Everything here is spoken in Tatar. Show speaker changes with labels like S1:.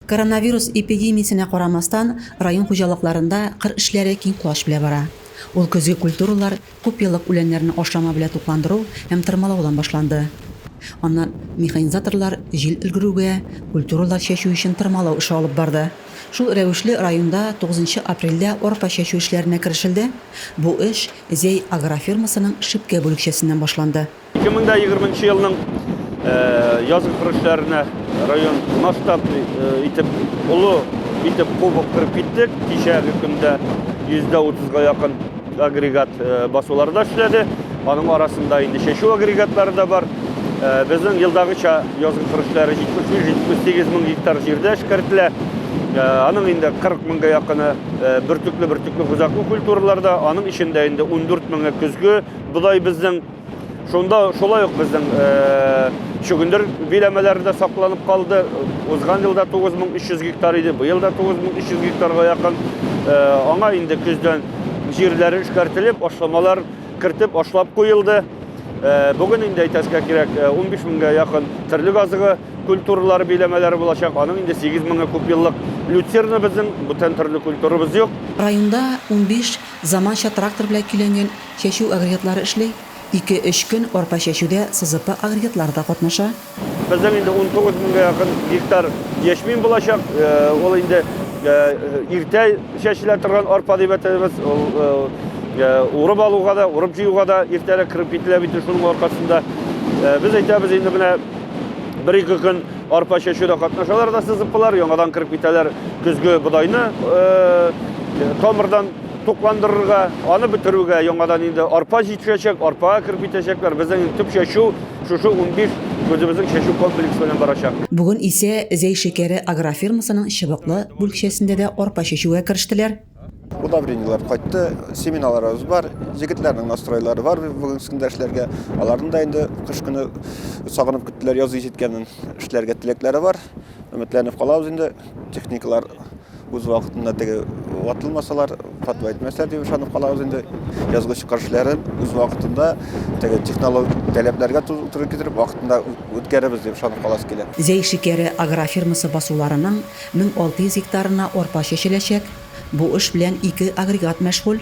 S1: Коронавирус эпидемиясенә карамастан, район хуҗалыкларында кыр эшләре киң колач белә бара. Ул көзге культуралар, күпьеллык үләннәрне ашлама белән тукландыру һәм тырмалаудан башланды. Аннан механизаторлар җил өлгерүгә, культуралар чәчү өчен тырмалау эше алып барды. Шул рәвешле районда тугызынчы апрельдә арпа чәчү эшләренә керешелде. Бу эш Зәй агрофирмасының Шипкә бүлекчәсеннән башланды. 2020
S2: елның язгы көрәшләренә район масштаб итеп олы итеп кубок кырып киттек. Кичәге көндә 130-га якын агрегат э, басуларда эшләде. Аның арасында инде чәчү агрегатлары да бар. Э, безнең елдагыча язгы кырышлары 73-78 мең гектар җирдә эшкәртелә. Э, аның инде 40 меңгә якыны бөртекле бөртекле хозаклы культураларда, аның эчендә инде 14 меңе көзге бодай безнең Шунда шулай ук безнең чөгендер биләмәләре дә сакланып калды. Узган елда 9300 гектар иде, быел да 9300 гектарга якын. Аңа инде көздән җирләре эшкәртелеп, ашламалар кертеп, ашлап куелды. Бүген инде әйтәскә кирәк, 15 меңгә якын терлек азыгы культуралары биләмәләре булачак. Аның инде 8 меңе күпьеллык люцерна безнең, бүтән төрле культурабыз юк. Районда
S1: 15 заманча трактор белән көйләнгән Чәчү агрегатлары эшли, ике-өч көн арпа чәчүдә сызыпы агрегатлары да катнаша. Безнең инде
S2: унтугыз меңгә якын гектар яшьмин булачак. Ул инде иртә чәчелә торган арпа дип әйтәбез. Ул урып алуга да, урып җыюга да иртәрәк кереп кителә бит шуның аркасында. Без әйтәбез, инде менә бер-ике көн арпа чәчүдә катнашалар да сызыпылар, яңадан кереп китәләр көзге бодайны тамырдан. тукландырырга, аны бетерүгә яңадан инде арпа җитешәчәк, арпага кереп китәчәкләр. Безнең төп чәчү шушы унбиш үзебезнең чәчү комплексы белән барачак. Бүген исә
S1: Зәй шикәре агрофирмасының чыбыклы бүлекчәсендә дә арпа чәчүгә керештеләр. Удобрениеләр
S3: кайтты, семеналарыбыз бар. Җегетләрнең настройлары бар бүген көндә эшләргә. Аларны да инде кыш көне сагынып көттеләр, язгы җиткәнен эшләргә теләкләре бар. Өметләнеп калабыз инде, техникалар үз вакытында теге ватылмасалар, фатва әйтмәсләр дип ышанып калабыз инде. Язгы чыгарышларын үз вакытында теге технологик таләпләргә туры китереп вакытында үткәребез дип ышанып каласы килә. Зәй шикәре
S1: агрофирмасы басуларының 1600 гектарына арпа чәчеләчәк. Бу эш белән ике агрегат мәшгуль.